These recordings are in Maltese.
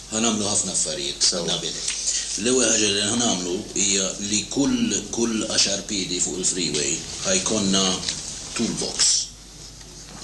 Ħa nagħmlu ħafna affarijiet, Nabil. L-ewwel ħaġa li ħa nagħmlu hija li kull kull għaxar piedi fuq il-freeway ħa jkollna tool box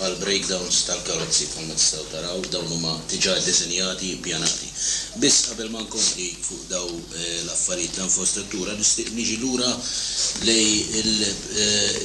għal breakdowns tal-karozzi bħalma tistgħu taraw dawn huma diġà ddisinjati, ippjanati. Biss qabel ma nkompli fuq daw l-affarijiet ta' infrastruttura nixtieq niġi lura lejn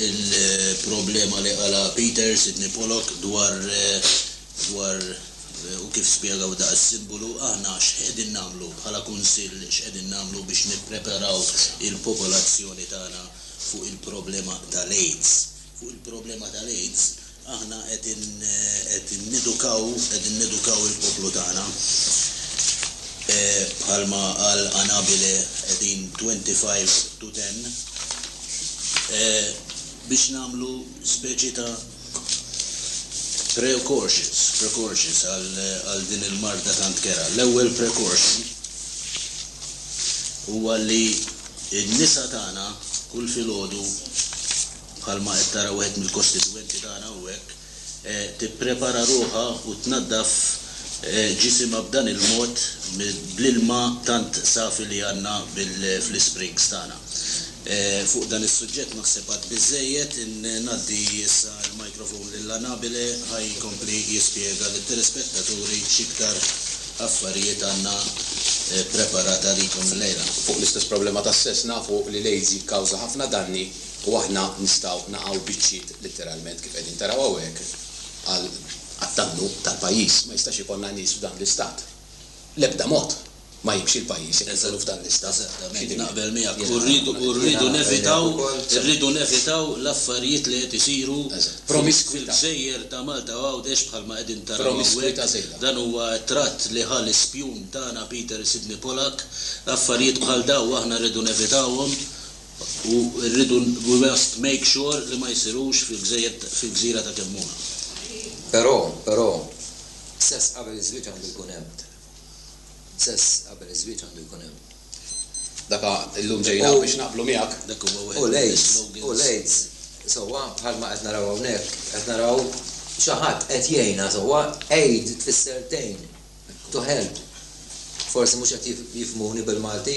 il-problema li qalha Peter, Sidney Pollock, dwar dwar U kif spjegaw dak is-simbolu, aħna x'qegħdin nagħmlu bħala Kunsill, x'qegħdin nagħmlu biex nippreparaw il-popolazzjoni tagħna fuq il-problema tal-AIDS? Fuq il-problema tal-AIDS aħna qed qed nedukaw qegħdin nedukaw il-poplu tagħna. Bħalma qal Anabile qegħdin twenty five to ten biex nagħmlu speċi ta' Precautions, precautions għal din il-marda tant kerha. L-ewwel precaution huwa li n-nisa tagħna kull filgħodu bħalma qed tara wieħed mill-kostitwenti tagħna hawnhekk tipprepara ruħha u tnaddaf ġisimha b'dan il-mod bl-ilma tant safi li għandna fl-isprings tagħna. Fuq dan is-suġġett naħseb għad biżżejjed. Ngħaddi issa l-microphone lil Anabile ħa jkompli jispjega lit-telespettaturi x'iktar affarijiet għandna ppreparat għalikom illejla. Fuq l-istess problema tas-sess nafu li l-AIDS jikkawża ħafna danni u aħna nistgħu naqgħu biċċiet litteralment kif qegħdin taraw hawnhekk għal għad-dannu tal-pajjiż. Ma jistax ikollna nies f'dan l-istat. L-ebda mod. ma jibx il-pajjiż inneżżelu f'dan l-istat. Jiena naqbel miegħek u rridu nevitaw irridu nevitaw l-affarijiet li qed isiru fil-gżejjer ta' Malta u Għawdex bħalma qegħdin taraw hawnhekk. Dan huwa t-tratt li ħa l-ispjun tagħna Peter Sidney Pollack. Affarijiet bħal dawn aħna rridu nevitawhom u rridu we must make sure li ma jsirux fil-gżejjer fil-gżira ta' Kemmuna. Però, però, sess qabel iż-żwieġ għandu jkun hemm. Sess qabel iż-żwieġ għandu jkun hemm. Dak a, illum ġejna hawn biex naqblu miegħek. Dak huwa wieħed mill-islogans. U l-AIDS, u l-AIDS sewwa bħalma qed naraw hawnhekk, qed naraw xi ħadd qed jgħinha sewwa, aid tfisser tgħin, to help. Forsi mhux qed jifhmuni bil-Malti.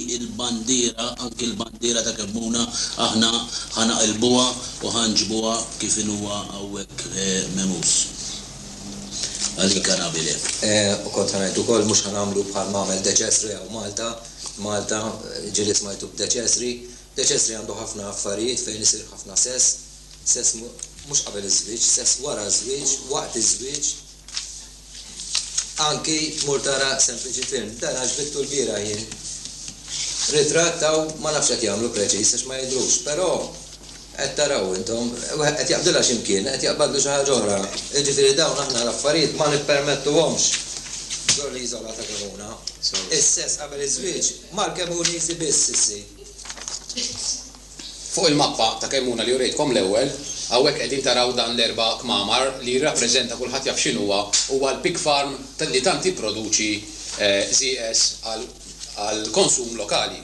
il-bandiera, anki l-bandiera ta' Kemmuna aħna ħa naqilbuha u ħa nġibuha kif inhuwa hawnhekk memus. Għalik Arabile. U kont ħa ngħid ukoll mhux ħa nagħmlu bħal m'għamel De Cesri hawn Malta, Malta, ġieli smajtu b'De Cesri. De Cesri għandu ħafna affarijiet fejn isir ħafna sess, sess mhux qabel iż-żwieġ, sess wara ż-żwieġ, waqt iż-żwieġ. Anki tmur tara sempliċi film. Dan għax bittu lbieraħ jien. Ritratt hawn ma nafx qed jagħmlu preċiż għax ma jidhrux, però qed taraw intom, wieħed qed jaqbdilha xi mkien, qed jaqbadlu xi ħaġa oħra. Jiġifieri dawn aħna l-affarijiet ma nippermettuhomx f'don l-iżola ta' Kemuna. Is-sess qabel iż-żwieġ mal-Kemunisi biss issir. Fuq il-mappa ta' Kemmuna li urejtkom l-ewwel, hawnhekk qegħdin taraw dan l-erba' kmamar li jirrappreżenta kulħadd jaf x'inhuwa, huwa l-pig farm li tant jipproduċi żieqeż għall-konsum lokali.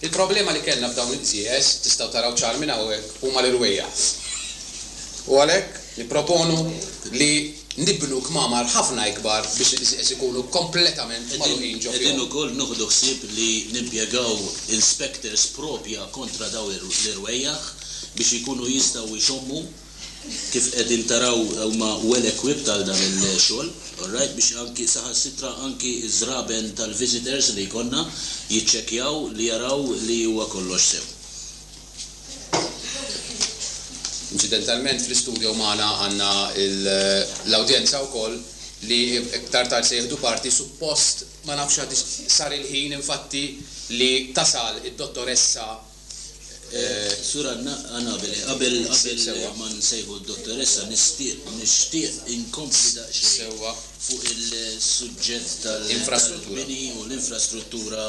Il-problema li kellna b'dawn iż-żieqeż, tistgħu taraw ċar minn hawnhekk, huma l-irwejjaħ. U għalhekk, Nipproponu li nibnu kmamar ħafna ikbar biex ikunu kompletament magħluqin ġo fihom. Qegħdin ukoll noħdu ħsieb li nimpjegaw inspectors proprja kontra dawn l-irwejjaħ biex ikunu jistgħu jxommu. Kif qegħdin taraw huma well equipped għal dan il-xogħol, alright, biex anki saħansitra anki ż-żraben tal-visitors li jkollna jiċċekkjaw li jaraw li huwa kollox sew. Inċidentalment fl-istudio magħna għandna l-awdjenza wkoll li iktar tard se jieħdu parti, suppost ma nafx għadiex sar il-ħin infatti li tasal id-Dottoressa. Sur Anna, Anabele, qabel ma nsejħu d-Dottoressa nixtieq inkompli daqsxejn. Sewwa. fuq il-suġġett tal-bini u l-infrastruttura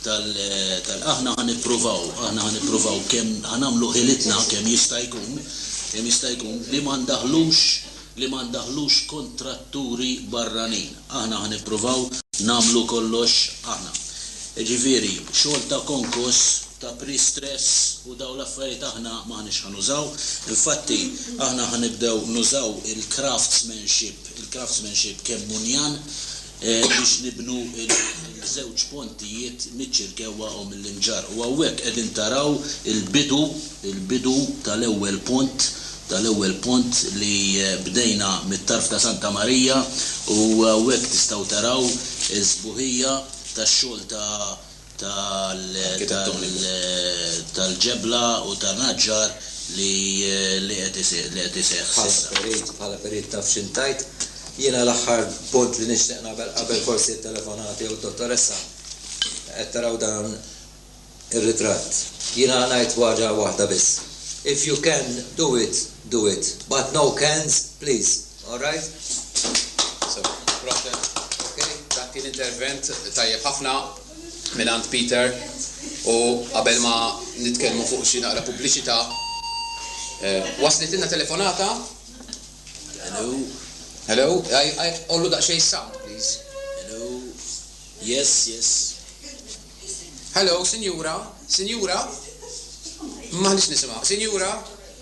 tal Aħna ħa nippruvaw, aħna ħa nippruvaw kemm ħa nagħmlu ħilitna kemm jista' jkun, kemm jista' jkun, li ma ndaħħlux, li ma ndaħħlux kontratturi barranin. Aħna ħa nippruvaw nagħmlu kollox aħna. Jiġifieri, xogħol ta' konkos, ta' pre-stress u dawn l-affarijiet aħna m'aħniex ħa nużaw. Infatti, aħna ħa nibdew nużaw il-craftsmanship il-craftsmanship kemm hu njan biex nibnu l-żewġ pontijiet miċ-Ċirkewwa u mill-Imġarr. U hawnhekk qegħdin taraw il-bidu, il-bidu tal-ewwel pont, tal-ewwel pont li bdejna mit-tarf ta' Santa Marija u hawnhekk tistgħu taraw is-sbuħija tax-xogħol ta' tal-ġebla u ta' naġġar li qed iseħħ s'issa. Bħala perit taf x'int tgħid. Jiena l-aħħar punt li nixtieq nagħmel qabel forsi t-telefonati jew d-dottoressa, qed taraw dan ir-ritratt. Jiena ngħid waġa waħda biss, if you can do it, do it, but no cans please. All right. So, proset. Ok, dak kien intervent tajjeb ħafna mingħand Peter u qabel ma nitkellmu fuq xi naqra pubbliċità eh, waslitilna telefonata. Hello. Hello, I, I, ollu daqsxejn sound, please. Hello. Yes, yes. Hello, Sinjura, Sinjura. Maħniex nisimgħu. Sinjura.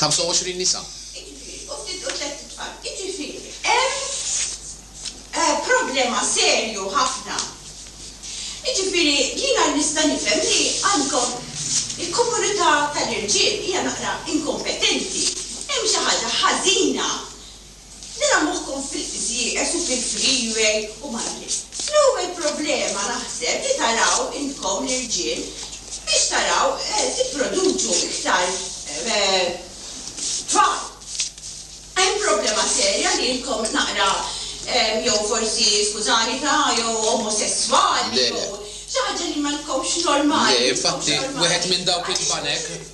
25 nisa. Jiġifieri, u ftit u tlett itfal. Jiġifieri, hemm problema serju ħafna. Jiġifieri, jiena nista' nifhem li għandkom il-komunità tal-irġiel hija naqra inkompetenti. Hemm xi ħaġa ħażina. Nara moħħkom fil-qfis ieqes u fil-freeway u malli. L-ewwel problema naħseb li taraw intkom l-irġiel biex taraw tipproduċu iktar tfal. Hemm problema serja li intkom naqra jew forsi, skużani, ta' jew omosesswali jew xi ħaġa li ma tkomx normali, mhux normali. Le, infatti, wieħed minn dawk il-banek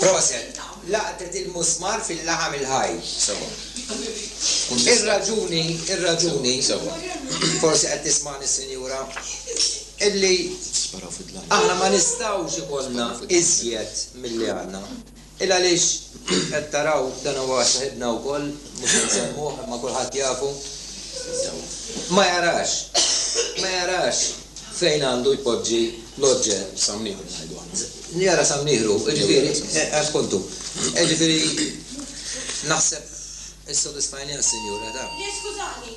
Proset! Laqtet il-musmar fil-laħam il-ħaj. Ir-raġuni, ir-raġuni, forsi qed tismagħni s-Sinjura, illi aħna ma nistgħux ikollna iżjed milli għandna. Il għaliex qed taraw, dan huwa saħibna wkoll, mhux se nsemmuh imma kulħadd jafu, ma jarax, ma jarax fejn għandu jpoġġi l-oġġett. Sam Nieħru ngħidu aħna. Jara Sam Nieħru, jiġifieri, appunt hu. Jiġifieri naħseb issodisfajniha s-Sinjura, ta. Le skużani,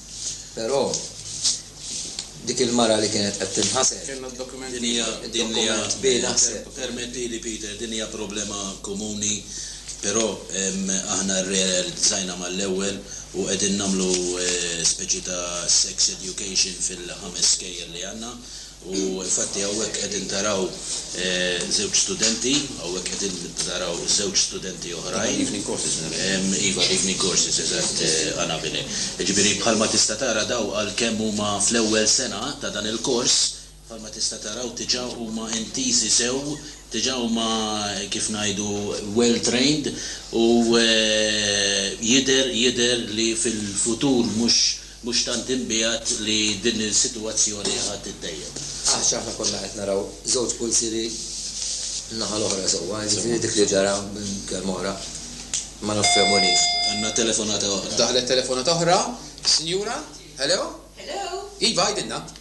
Però dik il-mara li kienet qed tinħasel. Kellha d-dokument. Din hija, din hija. Dokument bi naħseb. Permettili Peter, din hija problema komuni, però aħna rrealizzajna mal-ewwel u qegħdin nagħmlu speċi ta' sex education fil-ħames skejjel li għandna. U infatti hawnhekk qegħdin taraw żewġ studenti, hawnhekk qegħdin taraw żewġ studenti oħrajn. Dawn l-evening courses naraw. Iva, l-evening courses, eżatt, Anabile. Jiġifieri bħalma tista' tara dawn għalkemm huma fl-ewwel sena ta' dan il-kors, bħalma tista' taraw diġà huma intiżi sew, diġà huma kif ngħidu well trained u jidher jidher li fil-futur mhux Mhux tant inbiegħed li din is-sitwazzjoni ħa tittejjeb. Għax aħna konna qed naraw żewġ pulsieri n-naħa l-oħra sewwa, jiġifieri dik li ġara minn kelma oħra ma nifhemulhiex. Għandna telefonata oħra. Daħlet telefonata oħra. Sinjura, hello? Hello? Iva, għidilna.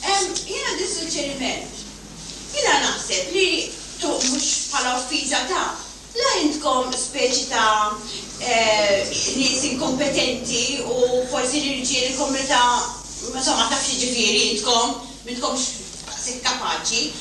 Jien għandi suġġeriment. Jiena naħseb li tuq mhux bħala offiża ta', la intkom speċi ta' nies inkompetenti u forsi l-irġiel il-komunità insomma taf x'jiġifieri intkom m'intkomx daqshekk kapaċi.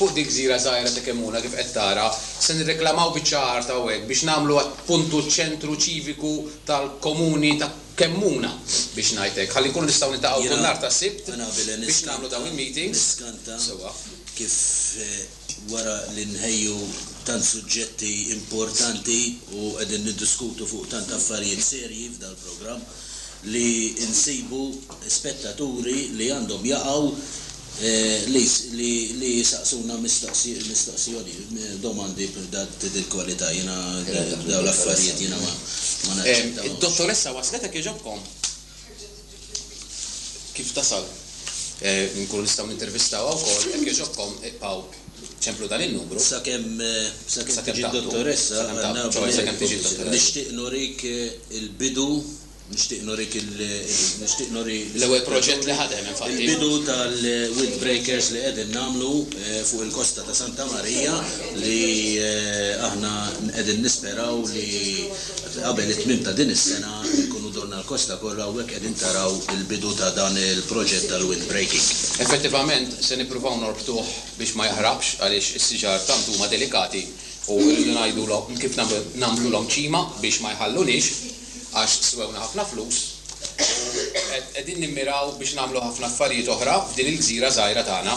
Fuq dik gżira żgħira ta' Kemmuna kif qed tara, se nirreklamaw biċċa art hawnhekk biex nagħmluha puntu ċentru ċiviku tal-Komuni ta' Kemmuna, biex ngħid hekk, ħalli nkunu nistgħu niltaqgħu kull nhar ta' Sibt biex nagħmlu dawn il-meetings. Jiena niskanta kif wara li nħejju tant suġġetti importanti u qegħdin niddiskutu fuq tant affarijiet serji f'dal-programm, li nsibu spettaturi li għandhom jaqgħu li jsaqsuna mistoqsijoni, domandi ta' dil kwalità. Jiena dawn l-affarijiet jiena ma naċċettahomx. Id-dottoressa waslet hekk jogħġobkom? Kif tasal? Inkunu nistgħu nintervistawha wkoll? Hekk jogħġobkom iqbgħu. Templu dan in-numru. Sakemm tiġi d-dottoressa għandna bl-erba' Nixtieq nurik il-bidu Nixtieq nurik il Nixtieq nuri L-ewwel proġett li ħadem infatti. Il-bidu tal-windbreakers li qegħdin nagħmlu fuq il-kosta ta' Santa Marija li aħna qegħdin nisperaw li Qabel it-tmiem ta' din is-sena nkunu dorna l-kosta kollha hawnhekk qegħdin taraw il-bidu ta' dan il-proġett tal-windbreaking. Effettivament se nippruvaw norbtuh biex ma jaħraqx għaliex is-siġar tant huma delikati u rridu ngħidulhom kif nagħmlulhom ċima biex ma jħalluniex għax swewna ħafna flus u qegħdin nimmiraw biex nagħmlu ħafna affarijiet oħra f'din il-gżira żgħira tagħna.